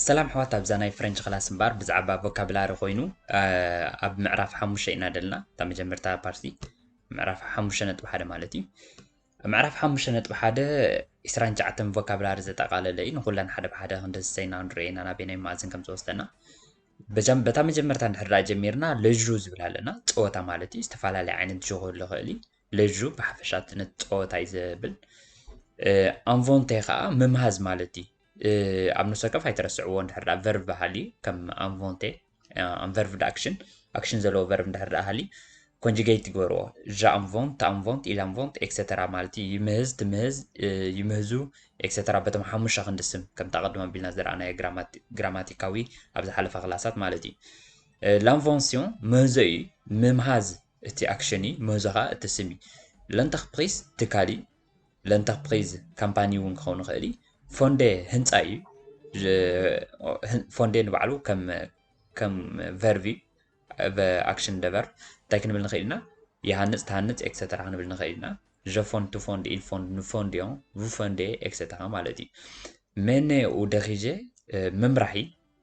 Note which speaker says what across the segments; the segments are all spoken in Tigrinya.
Speaker 1: ሰላም ኣሕዋት ኣብዛ ናይ ፍረንች ክላስ እምበር ብዛዕባ ቮካብላሪ ኮይኑ ኣብ ምዕራፍ ሓሙሽተ ኢና ደለና እታ መጀመርታ ፓርቲ ምዕራፍ ሓሙሽተ ነጥቢ ሓደ ማለት እዩ ምዕራፍ ሓሙሽተ ነጥቢ ሓደ ዕስራን ትሽዓተን ቮካብላሪ ዘጠቓለለ እዩ። ንኹለን ሓደ ብሓደ ክንደስሰይና ክንርእየና ናበየናይ መኣዝን ከም ዝወስደና በጃም በታ መጀመርታ እንድሕር ደኣ ጀሚርና ለዡ ዝብል ኣለና ጸወታ ማለት እዩ። ዝተፈላለየ ዓይነት ዡ ክህሉ ይኽእል እዩ። ለዡ ብሓፈሻ እቲ ነቲ ጸወታ እዩ ዘብል። ኣንቮንቴ ከኣ ምምሃዝ ማለት እዩ። ኣብ ነፍሲ ወከፍ ኣይትረስዕዎ እንድሕር ደኣ ቨርብ ሃልዩ ከም ኣንቮንቴ ኣም ቨርብ ንኣክሽን ኣክሽን ዘለዎ ቨርብ እንድሕር ደኣ ሃልዩ ኮንጁጌት ይግበርዎ እዛ ኣም ቮንት ኣም ቮንት ኢላም ቮንት ኤክሰተራ ማለት እዩ ይምህዝ ትምህዝ ይምህዙ ኤክሰተራ በቶም ሓሙሻ ክንዲ ስም ከምቲ ኣቐድሞ ኣቢልና ዝረኣናዮ ግራማቲካዊ ኣብ ዝሓለፈ ክላሳት ማለት እዩ ላንቮንሲዮን ምህዞ እዩ ምምሃዝ እቲ ኣክሽን እዩ ምህዞ ከዓ እቲ ስም እዩ ለንተክፕሪስ ትካል እዩ ለንተርፕሪዝ ካምፓኒ እውን ክኸውን ይኽእል እዩ። ፎንዴ ህንፃ እዩ። ፎንዴ ንባዕሉ ከም ከም ቨርብ እዩ። ኣክሽን ደበር እንታይ ክንብል ንኽእል ኢና? ይሃንፅ፣ ትሃንፅ ኤክሰተራ ክንብል ንኽእል ኢና። ዠፎን፣ ትፎንድ፣ ኢልፎንድ፣ ንፎንድ እዮም፣ ቭፎንዴ ኤክሰተራ ማለት እዩ። ሜኔ ኡደኺዤ መምራሒ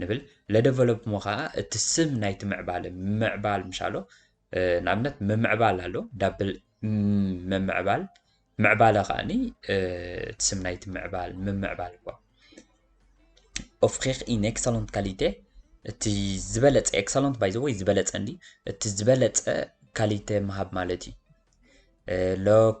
Speaker 1: ንብል ለደቨሎፕ እሞ ከኣ እቲ ስም ናይቲ ምዕባለ ምምዕባል ምሻሎ ንኣብነት ምምዕባል ኣሎ ዳብል ምምዕባል ምዕባለ ከኣኒ እቲ ስም ናይቲ ምዕባል ምምዕባል እኳ ኦፍሪክ ኢን ኤክሰለንት ካሊቴ እቲ ዝበለፀ ኤክሰለንት ባይ ዘ ወይ ዝበለፀ እንዲ እቲ ዝበለፀ ካሊተ ምሃብ ማለት እዩ ሎክ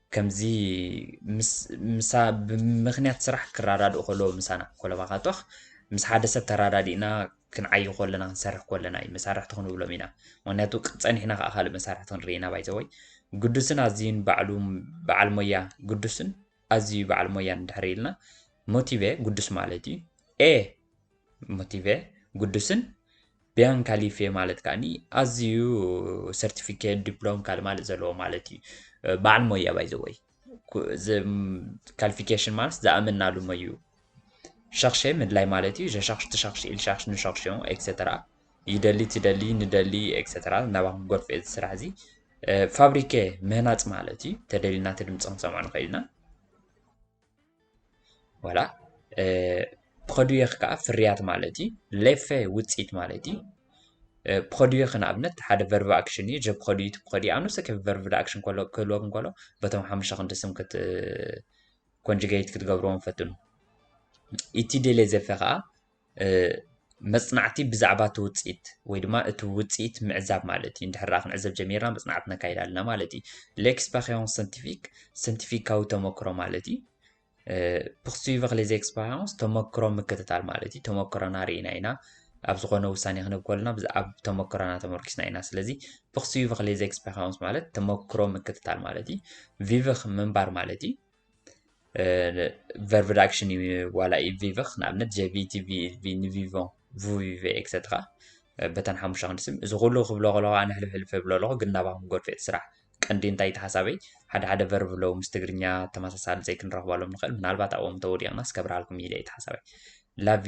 Speaker 1: ከምዚ ምስ ምሳ ብምኽንያት ስራሕ ክራዳድኡ ከለዉ ምሳና ኮለባኻቶኽ ምስ ሓደ ሰብ ተራዳዲእና ክንዓዪ ኮለና ክንሰርሕ ኮለና እዩ መሳርሕቲ ክንብሎም ኢና ምኽንያቱ ጸኒሕና ከኣ ካልእ መሳርሕቲ ክንርኢ ኢና ባይዘወይ ግዱስን ኣዝዩን ባዕሉ በዓል ሞያ ግዱስን ኣዝዩ በዓል ሞያን ድሕሪ ኢልና ሞቲቨ ግዱስ ማለት እዩ ኤ ሞቲቬ ጉዱስን ቢያን ካሊፌ ማለት ከኣኒ ኣዝዩ ሰርቲፊኬት ዲፕሎም ካልእ ማለት ዘለዎ ማለት እዩ በዓል ሞያ ባይዘወይ ካልፊኬሽን ማለት ዝኣመናሉ ሞዩ ሸኽሸ ምድላይ ማለት እዩ ሸሻኽሽ ትሻኽሽ ኢልሻኽሽ ንሻኽሽ ኤክሰተራ ይደሊ ትደሊ ንደሊ ኤክሰተራ ናባኹም ጎርፍ እዚ ስራሕ እዚ ፋብሪከ ምህናፅ ማለት እዩ ተደሊና እቲ ድምፂ ክንሰምዖ ንኽእል ኢና ዋላ ፕሮዲየር ከዓ ፍርያት ማለት እዩ ሌፌ ውፅኢት ማለት እዩ ፕሮዲየር ንኣብነት ሓደ ቨርብ ኣክሽን እዩ ጀ ፕሮዲዩት ፕሮዲ ኣኑሰ ከብ ቨርብ ኣክሽን ከሎ ክህልወክ እንከሎ በቶም ሓሙሽተ ክንዲ ስም ክት ኮንጅጌት ክትገብርዎም ፈትኑ ኢቲ ዴሌ ዘፌ ከዓ መጽናዕቲ ብዛዕባ እቲ ውጽኢት ወይ ድማ እቲ ውጽኢት ምዕዛብ ማለት እዩ እንድሕር ክንዕዘብ ጀሚርና መጽናዕቲ ነካይድ ኣለና ማለት እዩ ሌክስፐሪንስ ሰንቲፊክ ሰንቲፊካዊ ተመክሮ ማለት እዩ ፕክስቪ ክሌዚ ኤክስፐሪንስ ተመክሮ ምክትታል ማለት እዩ ተመክሮና ርኢና ኢና ኣብ ዝኾነ ውሳኔ ክንብ ከለና ኣብ ተመክሮና ተመርኪስና ኢና ስለዚ ፕክስቪ ክሌዚ ኤክስፐሪንስ ማለት ተመክሮ ምክትታል ማለት እዩ ቪቭክ ምንባር ማለት እዩ ቨርብ ኣክሽን እዩ ዋላ እዩ ቪቨኽ ንኣብነት ጀቪ ቲቪ ቪ ንቪቮ ቪቨ ኤክሰትራ በተን ሓሙሽተ ክንዲ ስም እዚ ኩሉ ክብሎ ከለኹ ኣነ ሕልፍ ሕልፍ እብሎ ኣለኹ ግን ናባኹም ጎርፌት ስራሕ ቀንዲ እንታይ እቲ ሓሳበይ ሓደ ሓደ ቨርብ ኣለዉ ምስ ትግርኛ ተመሳሳሊ ዘይክንረኽበሎም ንኽእል ምናልባት ኣብኦም ተወዲቕናስ ከብርሃልኩም ኢለ እቲ ሓሳበይ ላቪ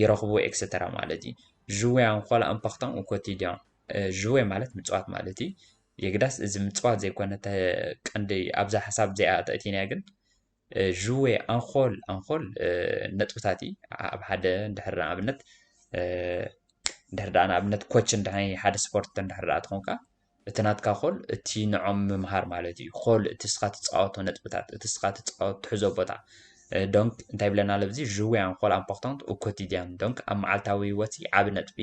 Speaker 1: ይረኽቡ ኤክሰተራ ማለት እዩ። ዥዌ ኣን ኾል ኣምፓክታን ኡ ኮቲድያን ዥዌ ማለት ምፅዋት ማለት እዩ። የግዳስ እዚ ምፅዋት ዘይኮነ እተ ቀንዲ ኣብዛ ሓሳብ እዚኣ ተእቲናያ ግን ዥዌ ኣንኾል ኣንኾል ነጥብታት እዩ ኣብ ሓደ እንድሕር ንኣብነት እንድሕር ደኣ ንኣብነት ኮች እንድሕር ሓደ ስፖርት እንድሕር ደኣ ትኾንካ እቲ ናትካ ኮል እቲ ንዖም ምምሃር ማለት እዩ ኮል እቲ እስኻ ትፃወቶ ነጥብታት እቲ እስኻ ትፃወ ትሕዞ ቦታ ዶንክ እንታይ ብለና ለብዚ ዥውያን ኮል ኣምፖክቶንት ኡኮቲድያን ዶንክ ኣብ መዓልታዊ ህይወት ዓብ ነጥቢ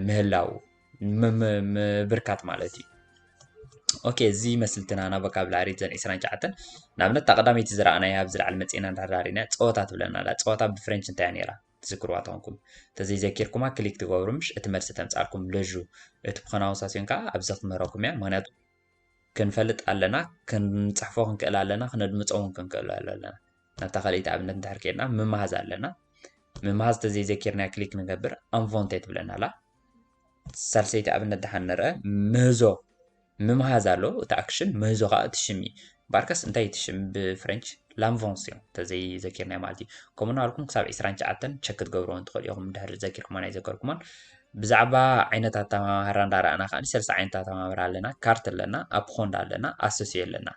Speaker 1: ምህላው ምብርካት ማለት እዩ ኦኬ እዚ መስልትና ናብ ቮካብላሪ ዘን 29 ንኣብነት እታ ቀዳመይቲ ዝረኣናያ ኣብ ዝለዓለ መፅና ዳርዳሪና ፀወታ ትብለና ኣላ ፀወታ ብፍሬንች እንታይ ነይራ ትዝክርዋ ተኾንኩም ተዘይዘኪርኩማ ክሊክ ትገብሩ ምሽ እቲ መልሲ ተምጻልኩም ለዡ እቲ ፕሮናውንሳሲዮን ከዓ ኣብዚ ክምህረኩም እያ ምክንያቱ ክንፈልጥ ኣለና ክንጽሕፎ ክንክእል ኣለና ክነድምፆ እውን ክንክእል ኣለና ናብታ ካልኢት ኣብነት እንድሕር ከድና ምምሃዝ ኣለና ምምሃዝ ተዘይዘኪርና ክሊክ ንገብር ኣንቮንቴ ትብለና ኣላ ሳልሰይቲ ኣብነት ደሓን ንርኣ። ምህዞ ምምሃዝ ኣሎ እቲ ኣክሽን፣ ምህዞ ከኣ እቲ ሽም እዩ። ባርከስ እንታይ እዩ እቲ ሽም ብፍረንች? ላምቮንስዮ እንተዘይ ዘኪርናዮ ማለት እዩ። ከምኡ እናበልኩም ክሳብ ዕስራን ትሽዓተን ቸክ ክትገብርወን ትኽእሉ ኢኹም እንድሕሪ ዘኪርኩሞን ኣይዘከርኩሞን። ብዛዕባ ዓይነት ኣተማማህራ እንዳረኣና ከኣ ሰለስተ ዓይነት ኣተማማህራ ኣለና፣ ካርት ኣለና፣ ኣፕኾንድ ኣለና፣ ኣሶሲዮ ኣለና።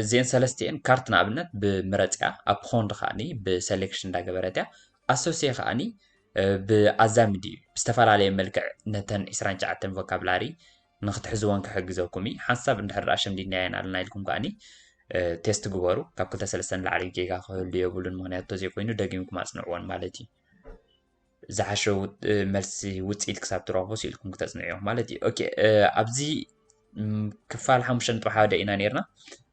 Speaker 1: እዚአን ሰለስቲኤን ካርት ንኣብነት ብምረጽያ፣ ኣፕኾንድ ከኣ ብሰሌክሽን እንዳገበረት እያ፣ ኣሶሴ ከኣ ብኣዛምዲ እዩ፣ ብዝተፈላለየ መልክዕ ነተን ዕስራን ትሽዓተን ቮካብላሪ ንክትሕዝወን ክሕግዘኩም እዩ። ሓንሳብ እንድሕር ኣሸምዲድናየን ኣለና ኢልኩም ከኣ ቴስት ግበሩ፣ ካብ ክልተ ሰለስተ ንላዕሊ ጌጋ ክህሉ የብሉን፣ ምኽንያቱ እንተዘይኮይኑ ደጊምኩም ኣጽንዕወን ማለት እዩ። ዝሓሸ መልሲ ውጽኢት ክሳብ ትረኽቡ ስኢልኩም ክተጽንዑ ኢኹም ማለት እዩ። ኦኬ ኣብዚ ክፋል ሓሙሽተ ነጥቢ ሓደ ኢና ነይርና።